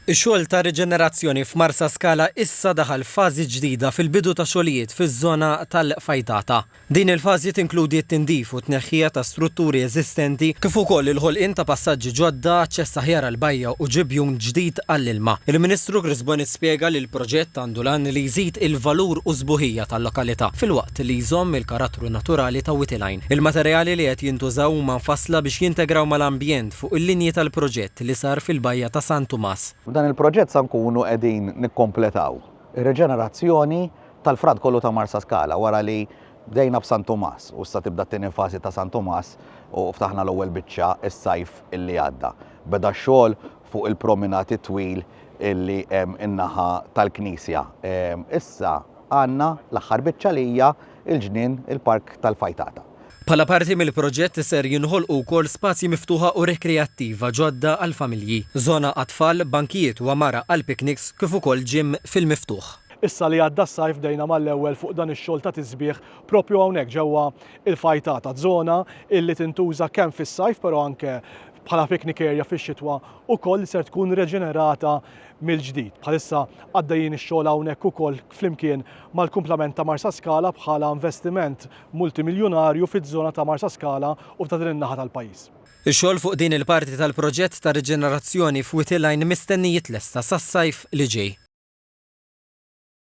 Ix-xogħol ta' riġenerazzjoni f'Marsaskala issa daħal f'fażi ġdida fil-bidu ta' xogħlijiet fiż-żona tal-Fajtata. Din il-fażi tinkludi t-tindif u t-tneħħija ta' strutturi eżistenti kif ukoll il-ħolqien ta' passaġġi ġodda, aċċess aħjar għall-bajja u ġibjun ġdid għall-ilma. Il-Ministru Chris Bonnitt spjega li l-proġett għandu l-għan li jżid il-valur u s-sbuħija tal-lokalità filwaqt li jżomm il-karattru naturali ta' Wittelein. Il-materjali li qed jintużaw huma mfassla biex jintegraw mal-ambjent fuq il-linji tal-proġett. proġett li sar fil-Bajja ta' San Tumas. F'dan il-proġett sa nkunu qegħdin nikkompletaw ir-riġenerazzjoni tal-frat kollu ta' Marsaskala wara li bdejna b'San Tumas u issa tibda t-tieni fażi ta' San Tumas u ftaħna l-ewwel biċċa s-sajf li għadda. Beda x-xogħol fuq il-prominat it-twil li hemm in-naħa tal-knisja. Issa għandna l-aħħar biċċa li hija il-ġnien, il-Park tal-Fajtata. Bħala parti mill-proġett ser jinħolqu wkoll spazji miftuħa u rekreattiva ġodda għall-familji, żona għat-tfal, bankijiet u għamara għall-pikniks kif ukoll ġim fil-miftuħ. Issa li għadda s-sajf bdejna mal-ewwel fuq dan ix-xogħol ta' tisbiħ proprju hawnhekk ġewwa l-Fajtata, żona illi tintuża kemm fis-sajf però anke bħala picnic area fix-xitwa ukoll ser tkun reġenerata mill-ġdid. Bħalissa għaddejjin ix-xogħol hawnhekk ukoll flimkien mal-kumplament ta' Marsaskala bħala investiment multimiljunarju fiż-żona ta' Marsaskala u ta' din in-naħa tal-pajjiż. Ix-xogħol fuq din il-parti tal-proġett ta' riġenerazzjoni f'Wied il-Għajn mistenni jitlesta sas-sajf li ġej.